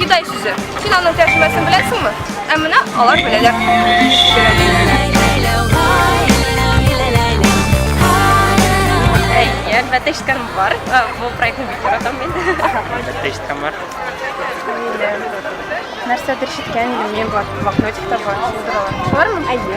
Гидай сүзе. Син аның тәрҗемәсен беләсеңме? Ә менә алар беләләр. Я әлбәттә ишеткәнем бар. Бу проектны бик яратам мин. Әлбәттә ишеткән бар. Нәрсәдер ишеткән идем, мин бар, блокнотикта бар, шулдыр алар. Шулармы? Әйе.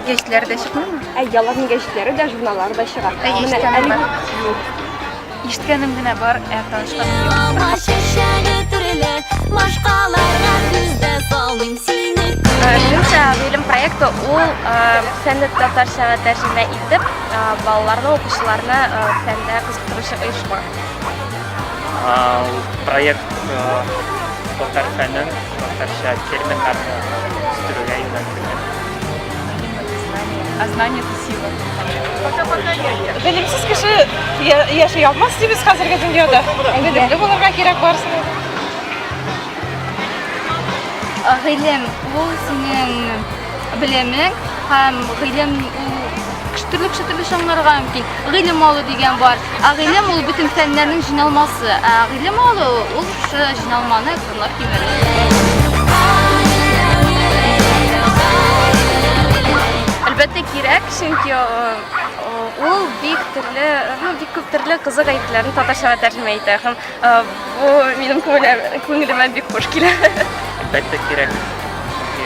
Гәҗитләре дә чыкмыймы? Әйе, аларның гәҗитләре дә, журналлары да чыга. Әйе, ишеткәнем бар. Ишеткәнем генә бар, ә танышканым юк. Алма чәчәге төрле, башкаларга сүз дә салмыйм сине Көнчә гыйлем проекты ул фәнне татарчага тәрҗемә итеп, балаларны, укучыларны фәндә кызыктыручы оешма. Проект татар фәнен, татарча терминнарны үстерүгә юнәлтелгән. А знание это сила. Пока-пока, дядя. Белемсез кеше яши алмас дибез хәзерге дөньяда. Белемле булырга кирәк барсын. Гыйлем ул синең белемең һәм гыйлем ул төрле кеше төрле чаңнарга мөмкин. Гыйлем алу дигән бар. Ә гыйлем ул бөтен фәннәрнең җыйналмасы. Ә гыйлем алу ул җыйналманы Тыңлап Әлбәттә кирәк, чөнки ул бик төрле, һәм бик күп төрле кызык әйберләрне татарчага тәрҗемә итә һәм бу минем күңелемә бик хуш килә. Әлбәттә кирәк. Чөнки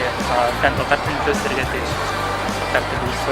фән татар телендә үсәргә тиеш. Татар теле үсә,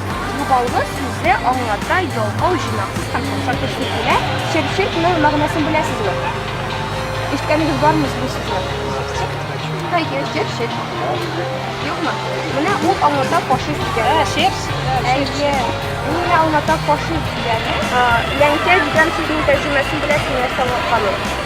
Югалгы сүзе аңлата ялкау, җыйнаксыз һәм шаршау кеше килә. Чыпчыкның мәгънәсен беләсезме? Ишеткәнегез бармы сез бу сүзне? Хәер, чыпчык. Юкмы? Менә ул аңлата фашист дигәнне. Ә, чепс? Әйе. Ул менә аңлата фашист дигәнне. Ләңкә дигән сүзнең тәрҗемәсен беләсезме, нәрсә аңлатканын?